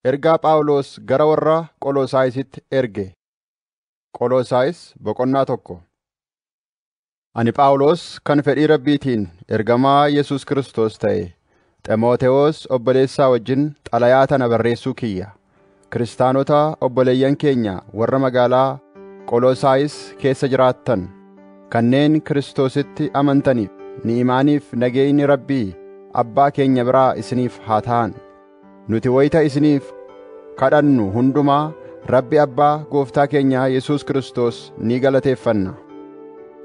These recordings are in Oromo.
Ergaa Phaawulos gara warra Qolosaayisitti erge. Qolosaayis boqonnaa tokko. Ani Phaawulos kan fedhii Rabbiitiin ergamaa Yesuus Kiristoos ta'e Ximootewoos obboleessaa wajjin xalayaa tana barreessuu kiyya. Kiristaanota obboleeyyan keenya warra magaalaa Qolosaayis keessa jiraattan kanneen Kiristoositti amantaniif ni'imaaniif nageenyi Rabbii Abbaa keenya biraa isiniif haa ta'an. Nuti wayita isiniif kadhannu hundumaa Rabbi Abbaa Gooftaa keenyaa Yesuus Kiristoos ni galateeffanna.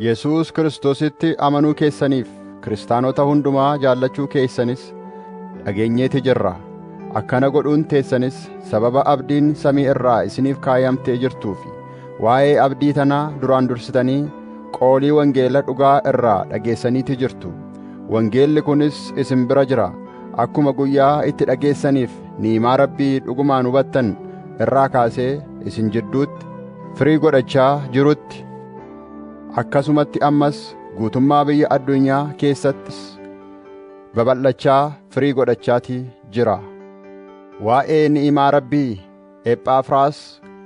Yesuus Kiristoositti amanuu keessaniif kiristaanota hundumaa jaallachuu keessanis dhageenyeeti jirra. Akkana godhuun teessanis sababa abdiin samii irraa isiniif kaayamtee jirtuufi waa'ee abdii tanaa duraan dursitanii qoolii wangeela dhugaa irraa dhageessaniiti jirtu. Wangeelli kunis isin bira jira. Akkuma guyyaa itti dhageessaniif ni'imaa Rabbii dhugumaan hubattan irraa kaasee isin jidduutti firii godhachaa jirutti akkasumatti ammas guutummaa biyya addunyaa keessattis babal'achaa firii godhachaatii jira. Waa'ee ni'imaa Rabbii Ephaafraas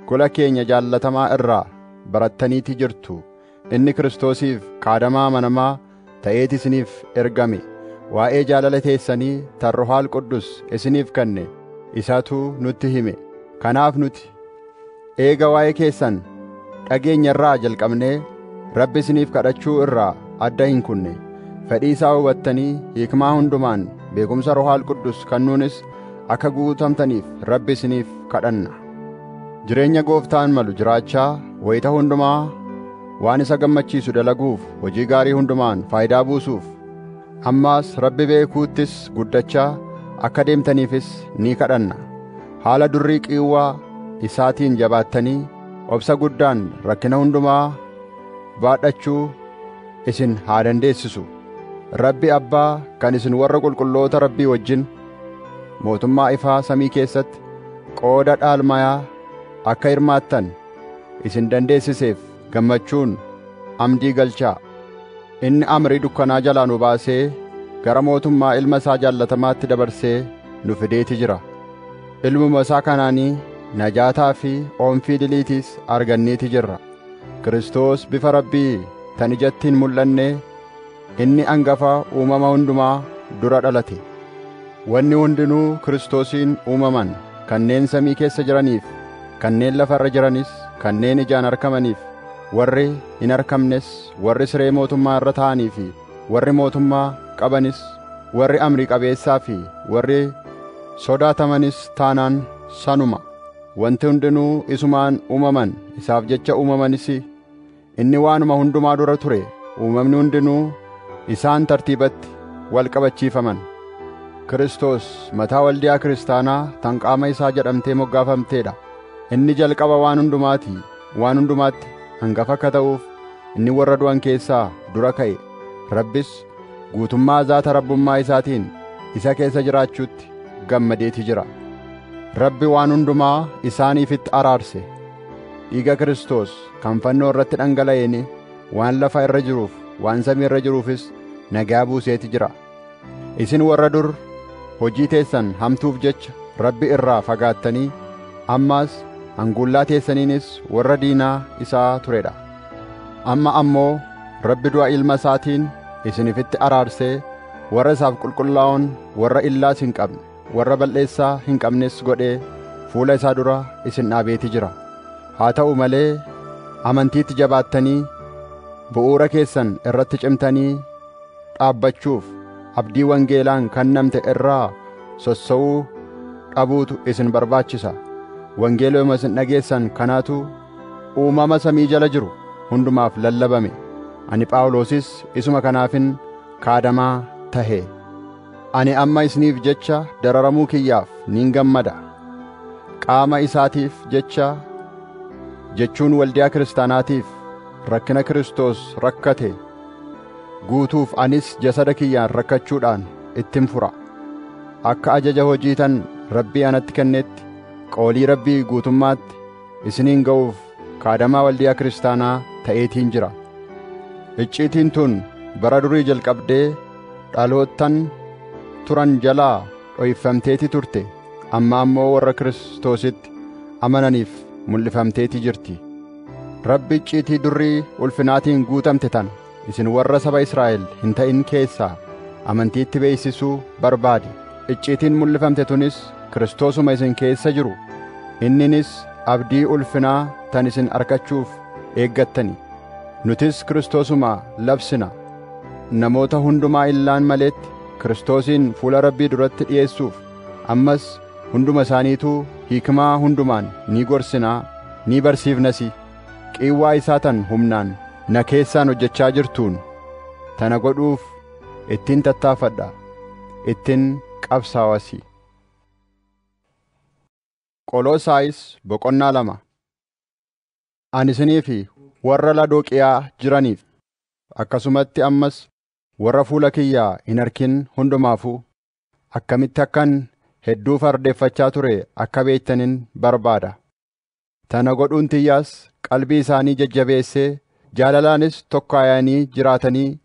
gola keenya jaallatamaa irraa barattaniiti jirtu. Inni Kiristoosiif qaadamaa amanamaa ta'eeti isiniif ergame, waa'ee jaalala teessanii tan Ruhaal Quddus isiniif kenne isatu nutti hime. Kanaaf nuti eega waa'ee keessan dhageenye irraa jalqabnee Rabbi isiniif kadhachuu irraa adda hin kunne. Fedhii isaa hubattanii hikmaa hundumaan beekumsa Ruhaal Quddus kannuunis akka guutamtaniif Rabbi isiniif kadhanna. Jireenya gooftaan malu jiraachaa wayita hundumaa waan isa gammachiisu dalaguuf hojii gaarii hundumaan faayidaa buusuuf ammaas Rabbi beekuuttis guddachaa akka deemtaniifis ni kadhanna. Haala durrii qiiwwaa isaatiin jabaattanii obsa guddaan rakkina hundumaa baadhachuu isin haa dandeessisu. Rabbi Abbaa kan isin warra qulqulloota Rabbii wajjin mootummaa ifaa samii keessatti qooda dhaalmayaa akka hirmaattan isin dandeessiseef gammachuun amdii galchaa inni amrii dukkanaa jalaa nu baasee gara mootummaa ilma isaa jaallatamaatti dabarsee nu fideeti jira ilmuma isaa kanaanii najaataa fi oomfii diliitiis arganneeti jirra Kiristoos bifa rabbii tan ijatti hin mul'annee Inni angafa uumama hundumaa dura dhalate. Wanni hundinuu Kiristoosiin uumaman, kanneen samii keessa jiraniif, kanneen lafa irra jiranis, kanneen ijaan arkamaniif, warri hin arkamnes, warri siree mootummaa irra taa'anii fi warri mootummaa qabanis, warri amrii qabeessaa fi warri sodaatamanis taanaan sanuma. Wanti hundinuu isumaan uumaman, isaaf jecha uumamanis. Inni waanuma hundumaa dura ture, uumamni hundinuu isaan tartiibatti wal qabachiifaman. Kiristoos mataa waldiyaa kiristaanaa tan qaama isaa jedhamtee moggaafamteedha. Inni jalqaba waan hundumaati, waan hundumaatti hangafa akka ta'uuf inni warra du'an keessaa dura ka'e. Rabbis guutummaa zaata rabbummaa isaatiin isa keessa jiraachuutti gammadeeti jira. Rabbi waan hundumaa isaaniifitti araarse. Dhiiga Kiristoos kan fannoo irratti dhangala'een waan lafa irra jiruuf waan samii irra jiruufis nagaa buuseeti jira isin warra dur hojii teessan hamtuuf jecha rabbi irraa fagaattanii ammaas hanguullaa teessaniinis warra diinaa isaa turedha amma ammoo rabbi du'a ilma isaatiin isinifitti araarsee warra isaaf qulqullaa'oon warra illaas hin qabne warra bal'eessaa hin qabnes godhee fuula isaa dura isin dhaabeeti jira haa ta'u malee amantiitti jabaattanii bu'uura keessan irratti cimtanii dhaabbachuuf abdii wangeelaan kennamte irraa sossa'uu dhabuutu isin barbaachisa wangeeluma isin dhageessan kanaatu uumama samii jala jiru hundumaaf lallabame ani phaawulosis isuma kanaafin kaadamaa tahe Ani amma isiniif jecha dararamuu kiyyaaf nin gammada. Qaama isaatiif jecha jechuun waldiyaa kiristaanaatiif rakkina Kiristoos rakkate guutuuf anis jasada kiyyaan rakkachuudhaan ittin fura. Akka ajaja hojiitan Rabbii anatti kennetti qoolii Rabbii guutummaatti isiniin ga'uuf kaadamaa waldiyaa kiristaanaa ta'eetiin jira. Icciitiin tun bara durii jalqabdee dhaloottan turan jalaa dhoyfamteeti turte amma ammoo warra Kiristoositti amananiif mul'ifamteeti jirti rabbi icciitii durrii ulfinaatiin guutamte tana isin warra saba Israa'el hin ta'in keessaa amantiitti beeksisuu barbaade icciitiin mul'ifamte tunis Kiristoosuma isin keessa jiru inninis abdii ulfinaa tan isin arkachuuf eeggattani nutis Kiristoosuma labsina Namoota hundumaa illaan maleetti Kiristoosiin fuula Rabbii duratti dhi'eessuuf ammas hunduma isaaniituu hiikmaa hundumaan ni gorsinaa ni barsiifnasi qiiwwaa isaa tan humnaan na keessaan hojjechaa jirtuun tana godhuuf ittin tattaafadha ittin qabsaawasi. Qoloosaayis boqonnaa lama Ani isinii fi warra Lodooqiyaa jiraniif, akkasumatti ammas warra fuula kiyya hin arkin hundumaafuu, akkamitti akkan hedduu fardeeffachaa ture akka beektanin barbaada. Tana godhuun tiyyaas qalbii isaanii jajjabeessee, jaalalaanis tokkaayanii jiraatanii,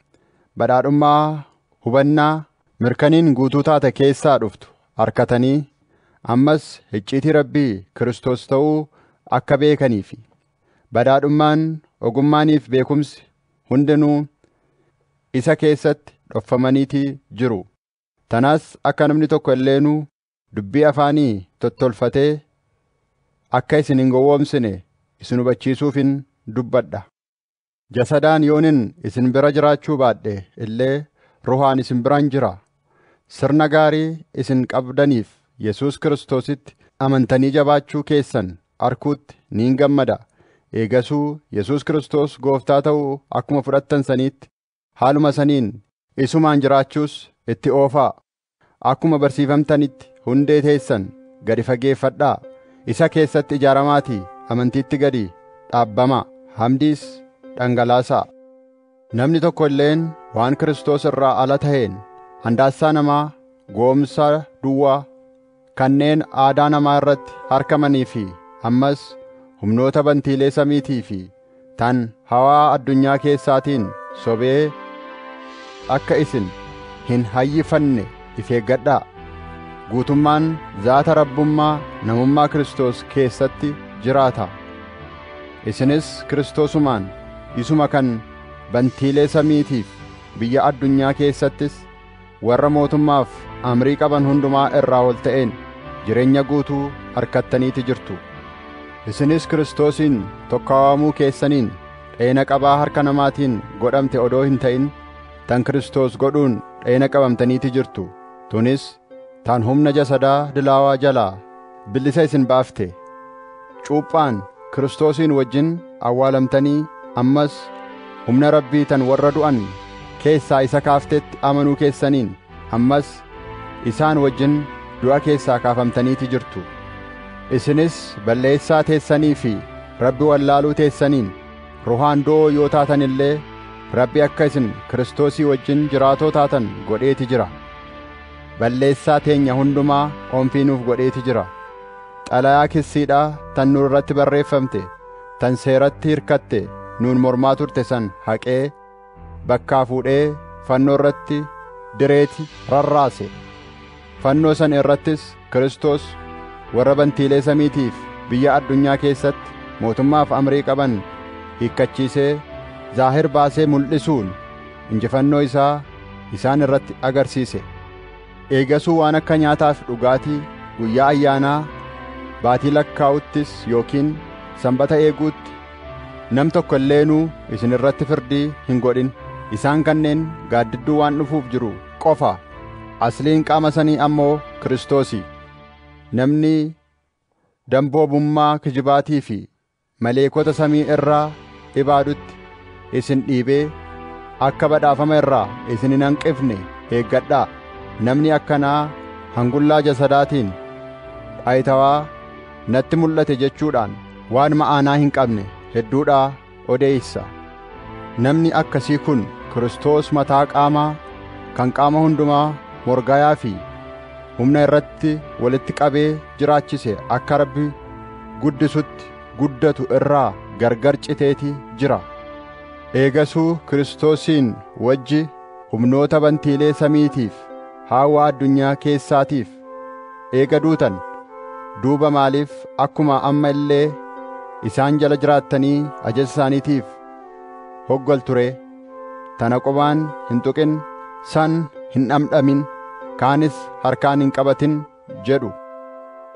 badhaadhummaa hubannaa Mirkaniin guutuu taate keessaa dhuftu arkatanii ammas hicciitii Rabbii Kiristoos ta'uu akka beekanii fi badhaadhummaan ogummaaniif beekumsi hundinuu isa keessatti dhoffamaniitii jiru. Tanaas akka namni tokko illeenuu dubbii afaanii tottolfatee akka isin hin gowwoomsine isin hubachiisuufin dubbadha. Jasadaan yoonin isin bira jiraachuu baadhe illee ruhaan isin biraan jira. Sirna gaarii isin qabdaniif Yesuus Kiristoositti amantanii jabaachuu keessan arkuutti niin gammada. Eegasuu Yesuus Kiristoos Gooftaa ta'uu akkuma fudhattan saniitti haaluma saniin isumaan jiraachuus itti oofaa. Akkuma barsiifamtanitti hundee teessan gadi fageeffadhaa, isa keessatti ijaaramaatii amantiitti gadi dhaabbamaa, hamdiis dhangalaasaa. Namni tokko illeen waan Kiristoos irraa ala ta'een handaassaa namaa gowomsaa duwwaa kanneen aadaa namaa irratti harkamanii fi ammas humnoota bantiilee samiitii fi tan hawaa addunyaa keessaatiin sobee akka isin hin hayyifanne if eeggadhaa guutummaan zaata rabbummaa namummaa Kiristoos keessatti jiraata isinis Kiristoosumaan isuma kan bantiilee samiitiif biyya addunyaa keessattis warra mootummaaf amrii qaban hundumaa irraa ol ta'een jireenya guutuu arkattaniiti jirtu isinis kiristoosiin tokkaawamuu keessaniin dheena qabaa harka namaatiin godhamte odoo hin ta'in tan kiristoos godhuun dheena qabamtaniiti jirtu tunis tan humna jasadaa dilaawaa jalaa bilisa isin baafte. Cuuphaan Kiristoosiin wajjin awwaalamtanii ammas humna Rabbii tan warra du'an keessaa isa kaaftetti amanuu keessaniin ammas isaan wajjin du'a keessaa kaafamtaniiti jirtu. Isinis balleessaa teessanii fi Rabbi wallaaluu teessaniin ruhaan du'oo yoo taatan illee Rabbi akka isin Kiristoosii wajjin jiraatoo taatan godheeti jira. balleessaa teenya hundumaa qoonfii nuuf godheeti jira. Xalayaa kissiidhaa tan nu irratti barreeffamte, tan seeratti hirkatte nuun mormaa turte san haqee, bakkaa fuudhee fannoo irratti direeti rarraase. Fannoo san irrattis Kiristoos warra bantiilee samiitiif biyya addunyaa keessatti mootummaaf amrii qaban hiikkachiisee zaahir baasee mul'isuun injifannoo isaa isaan irratti agarsiise. Eegasuu waan akka nyaataa fi dhugaatii guyyaa ayyaanaa baatii lakkaa'uttis yookiin sanbata eeguutti nam tokko illeenuu isin irratti firdii hin godhin. Isaan kanneen gaaddidduu waan dhufuuf jiru qofa asliin qaama sanii ammoo Kiristoosi namni damboobummaa kijibaatii fi maleekota samii irraa ibaadutti isin dhiibee akka badhaafama irraa isin hin hanqifne eeggadhaa namni akkanaa hangullaa jasadaatiin dhayitawaa natti mul'ate jechuudhaan waan ma'aanaa hin qabne hedduudhaa odeessa. Namni akkasii kun Kiristoos mataa qaamaa kan qaama hundumaa morgayaa fi humna irratti walitti qabee jiraachise akka Rabbi guddisutti guddatu irraa gargar citeeti jira. Eegasuu Kiristoosiin wajji humnoota bantiilee samiitiif haawaa addunyaa keessaatiif Eega duutan duuba maaliif akkuma amma illee isaan jala jiraattanii ajaja isaaniitiif hoggaltu ree? Tana qubaan hin tuqin, san hin dhamdhamin, kaanis harkaan hin qabatin jedhu.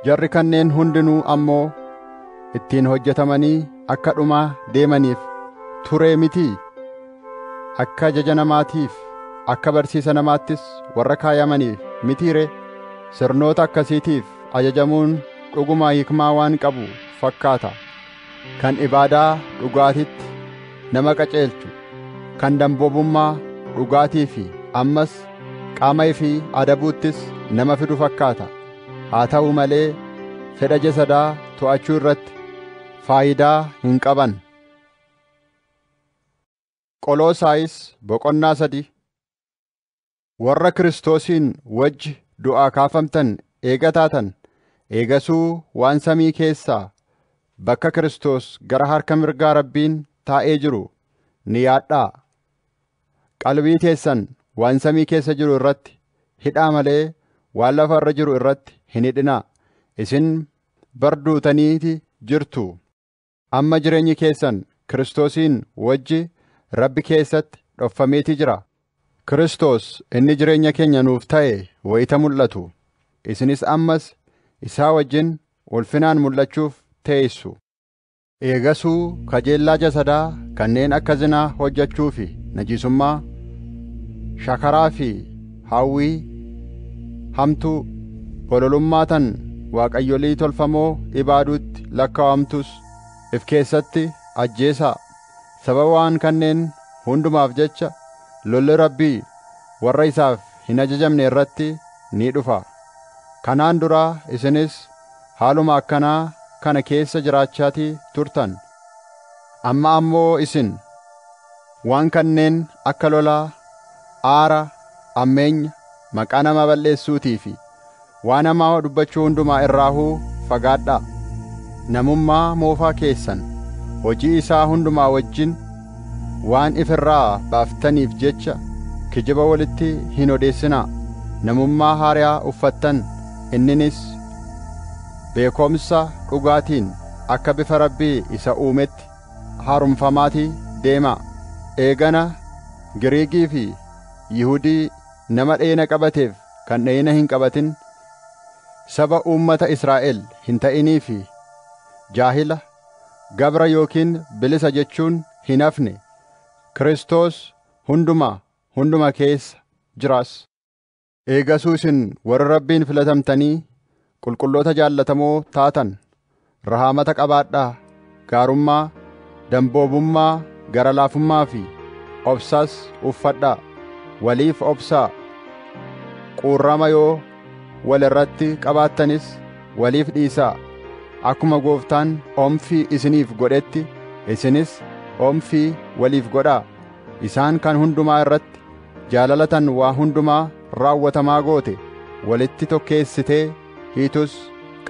Jarri kanneen hundinuu ammoo ittiin hojjetamanii akka dhumaa deemaniif turee mitii? Akka ajaja namaatiif, akka barsiisa namaattis warra kaayamaniif mitii ree? Sirnoota akkasiitiif ajajamuun dhuguma hikmaa waan qabu fakkaata. Kan ibaadaa dhugaatitti nama qaceelchu, kan damboobummaa dhugaatii fi ammas qaama ifii adabuuttis nama fidu fakkaata. Haa ta'u malee fedha jasadaa to'achuu irratti faayidaa hin qaban. Qoloosaayis boqonnaa 3 Warra Kiristoosiin wajji du'aa kaafamtan eega taatan, eegasuu waan samii keessaa bakka Kiristoos gara harka mirgaa Rabbiin taa'ee jiru ni yaadhaa. Qalbii teessan waan samii keessa jiru irratti hidhaa malee waan lafa irra jiru irratti hin hidhinaa. Isin bar duutaniiti jirtu. Amma jireenyi keessan Kiristoosiin wajji Rabbi keessatti dhoffameetii jira. Kiristoos inni jireenya keenya nuuf ta'e wayita mul'atu, isinis ammas isaa wajjin ulfinaan mul'achuuf teessu. Eegasuu kajeellaa jasadaa kanneen akka zinaa hojjachuu fi najiisummaa, shakaraa fi hawwii hamtuu, bololummaa tan waaqayyolii tolfamoo ibaaduutti lakkaawamtus if keessatti ajjeesaa. Sababa waan kanneen hundumaaf jecha lolli Rabbii warra isaaf hin ajajamne irratti ni dhufa. Kanaan dura isinis haaluma akkanaa kana keessa jiraachaatii turtan. Amma ammoo isin. Waan kanneen akka lolaa, aara, ammeenya, maqaa namaa balleessuutii fi waan hamaa dubbachuu hundumaa irraahuu fagaadhaa. Namummaa moofaa keessan hojii isaa hundumaa wajjin waan if irraa baaftaniif jecha kijiba walitti hin odeessinaa, namummaa haaryaa uffattan, inninis beekomsa dhugaatiin akka bifa Rabbii isa uumetti, haaromfamaati deemaa. Eegana Giriikii fi Yihudii nama dhayina qabateef kan dhayina hin qabatin, saba uummata Israa'el hin ta'inii fi jaahila, gabra yookiin bilisa jechuun hin hafne, Kiristoos hundumaa hunduma keessa jiraas. Eegasuu isin warra Rabbiin filatamtanii qulqulloota jaallatamoo taatan rahaamata qabaadhaa, gaarummaa, damboobummaa, gara laafummaa fi obsas uffadhaa, waliif obsaa, quurrama yoo wal irratti qabaattanis waliif dhiisaa, akkuma Gooftaan omfii isiniif godhetti isinis omfii waliif godhaa. isaan kan hundumaa irratti jaalalatan waa hundumaa raawwatamaa goote walitti tokkeessitee hiitus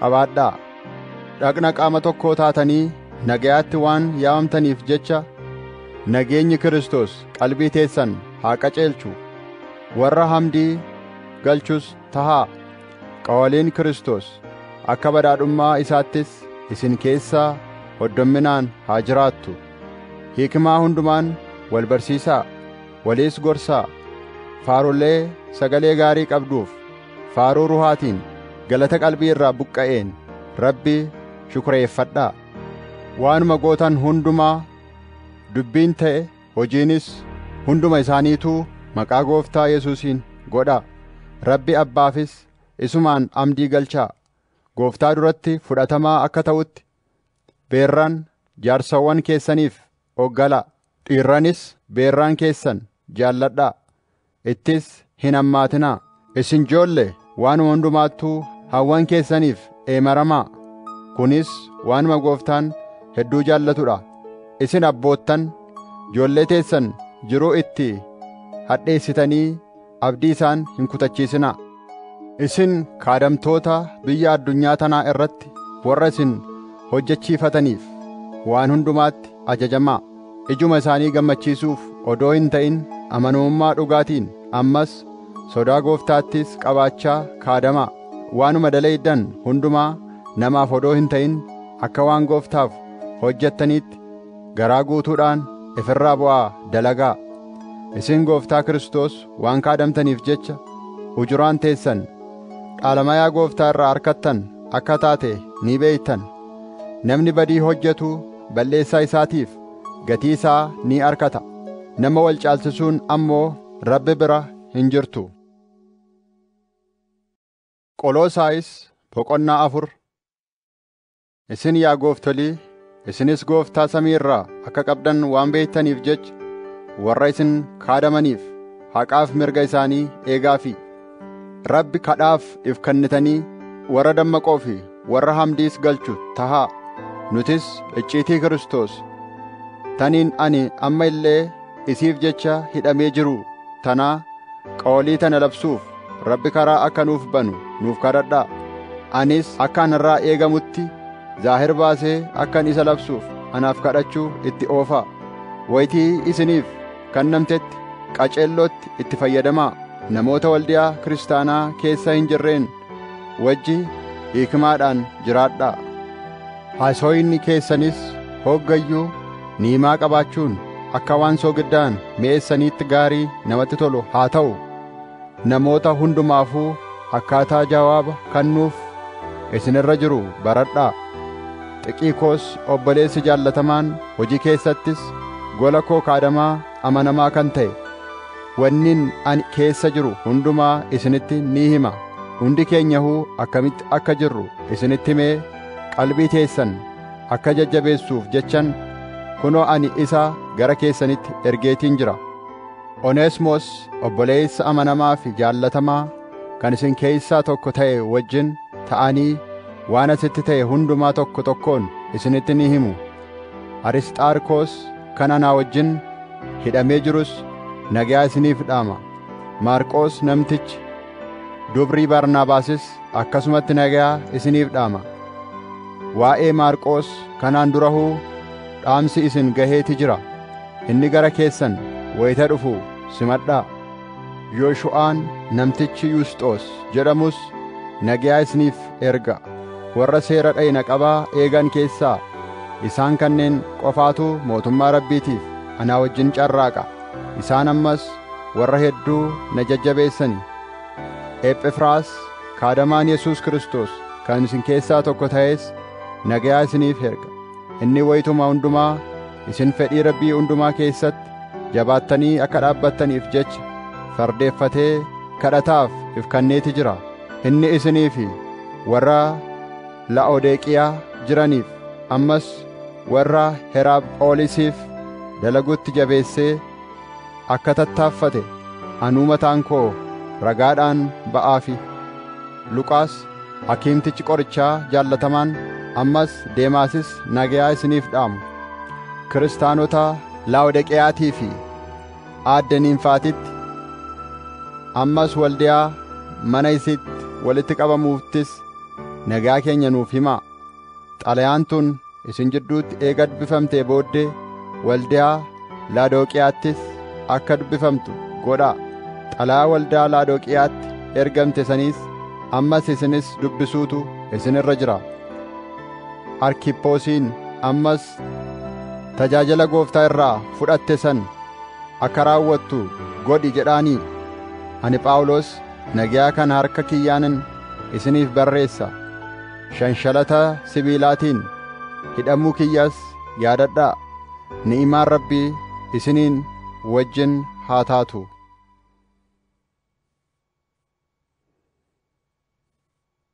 qabaadhaa dhaqna qaama tokkoo taatanii nagayaatti waan yaamamtaniif jecha nageenyi Kiristoos qalbii teessan haa qaceelchu warra hamdii galchus tahaa qawaliin Kiristoos akka badhaadhummaa isaattis isin keessaa hoddomminaan haa jiraattu Hikmaa hundumaan wal barsiisaa, waliis gorsaa, faarulee sagalee gaarii qabduuf, faaruu ruhaatiin, galata qalbii irraa buqqa'een Rabbi shukreeffadhaa. Waanuma gootan hundumaa, dubbiin ta'e hojiinis hunduma isaaniituu maqaa gooftaa Yesuusiin godhaa. Rabbi Abbaafis isumaan amdii galchaa. Gooftaa duratti fudhatamaa akka ta'utti beerraan jaarsawwan keessaniif oggalaa, dhiirranis beerraan keessan jaalladhaa, ittis hin hammaatinaa. Isin joolle, waanuma hundumaattuu hawwan keessaniif eemaramaa, kunis waanuma Gooftaan hedduu jaallatu dha. Isin abboottan, joollee teessan jiruu itti hadheessitanii, abdii isaan hin kutachiisinaa. Isin kaadamtoota biyya addunyaa tanaa irratti warra isin hojjechiifataniif waan hundumaatti ajajamaa. Ijuma isaanii gammachiisuuf odoo hin ta'in amanamummaa dhugaatiin ammas sodaa gooftaattis qabaachaa kaadamaa. Waanuma dalayddan hundumaa namaaf odoo hin ta'in akka waan gooftaaf hojjettaniitti Garaa guutuudhaan if irraa bu'aa dalagaa. Isin gooftaa Kiristoos waan kaadamtaniif jecha ujuraan teessan dhaalamayaa gooftaa irraa arkattan akka taate ni beektan. Namni badii hojjetu balleessaa isaatiif gatii isaa ni arkata. Nama wal caalchisuun ammoo Rabbi bira hin jirtu. Qoloosaayis boqonnaa afur Isin yaa gooftolii, isinis gooftaa samii irraa akka qabdan waan beektaniif jecha warra isin kaadamaniif haqaaf mirga isaanii eegaafii. Rabbi kadhaaf if kennitanii warra dammaqoo fi warra hamdiis galchu tahaa. Nutis icciitii Kiristoos taniin ani amma illee isiif jecha hidhamee jiru tanaa qawalii tana labsuuf Rabbi karaa akka nuuf banu nuuf kadhadhaa. Anis akka anarraa eegamutti zaahir baasee akkan isa labsuuf anaaf kadhachuu itti oofaa. Waytii isiniif kannamtetti qaceellootti itti fayyadamaa. Namoota waldiyaa kiristaanaa keessa hin jirreen wajji hiikmaadhaan jiraadhaa. Haasoyni keessanis hoggayyuu niimaa qabaachuun akka waan soogiddaan mi'eessaniitti gaarii namatti tolu haa ta'u. Namoota hundumaafuu akkaataa jawaaba kannuuf isin irra jiru baradhaa. Xiqiikoos obboleessi jaallatamaan hojii keessattis gola koo kaadamaa amanamaa kan ta'e, wannin ani keessa jiru hundumaa isinitti ni hima, hundi keenyahuu akkamitti akka jirru isinitti himee qalbii teessan akka jajjabeessuuf jechan kunoo ani isa gara keessanitti ergeetiin jira. Oneesmoos obboleessa amanamaa fi jaallatamaa kan isin keessaa tokko ta'e wajjin ta'anii waan asitti ta'e hundumaa tokko tokkoon isinitti ni himu. Arisxaarkoos kan anaa wajjin hidhamee jirus nagaa isiniif dhaama. Maarqoos namtichi dubrii Barnaabaasis akkasumatti nagaa isiniif dhaama. Waa'ee Maarqoos kanaan durahuu dhaamsi isin gaheeti jira. Inni gara keessan wayita dhufu simadhaa. Yooshu'aan namtichi Yuusxoos jedhamus nagaa isiniif erga. Warra seera dhayna qabaa eegan keessaa isaan kanneen qofaatu mootummaa Rabbiitiif anaa wajjin carraaqa. Isaan ammas warra hedduu na jajjabeessani. Ephefraas kaadamaan Yesuus Kiristoos kan isin keessaa tokko ta'es nagaa isiniif erga. Inni wayituma hundumaa Isin fedhii Rabbii hundumaa keessatti jabaattanii akka dhaabbattaniif jecha fardeeffatee kadhataaf if kanneeti jira. Inni isinii fi warra Laa'odeeqiyaa jiraniif ammas warra Heraaphoolisiif dalagutti jabeessee akka tattaaffate anuu mataan koo ragaadhaan ba'aafi. Luqaas hakiimtichi qorichaa jaallatamaan ammas Deemaasis nagayaa isiniif dhaamu. Kiristaanota Laawodiqiyaatii fi aadde Niimfaatitti ammas waldiyaa mana isiitti walitti qabamuuttis nagaa keenya nuuf himaa. Xalayaan tun isin jidduutti eega dubbifamtee booddee waldaa Laadooqiyaattis akka dubbifamtu godhaa. Xalayaa waldaa Laadooqiyaatti ergamte saniis ammas isinis dubbisuutu isin irra jira. Arkiphoosiin ammas tajaajila gooftaa irraa fudhatte san akka raawwattu godhi jedhaanii. Ani Phaawulos nagaa kana harka kiyyaanin isiniif barreessa. Shanshalata sibiilaatiin hidhamuu kiyyas yaadadhaa. Ni'imaan Rabbii isiniin wajjin haa taatu.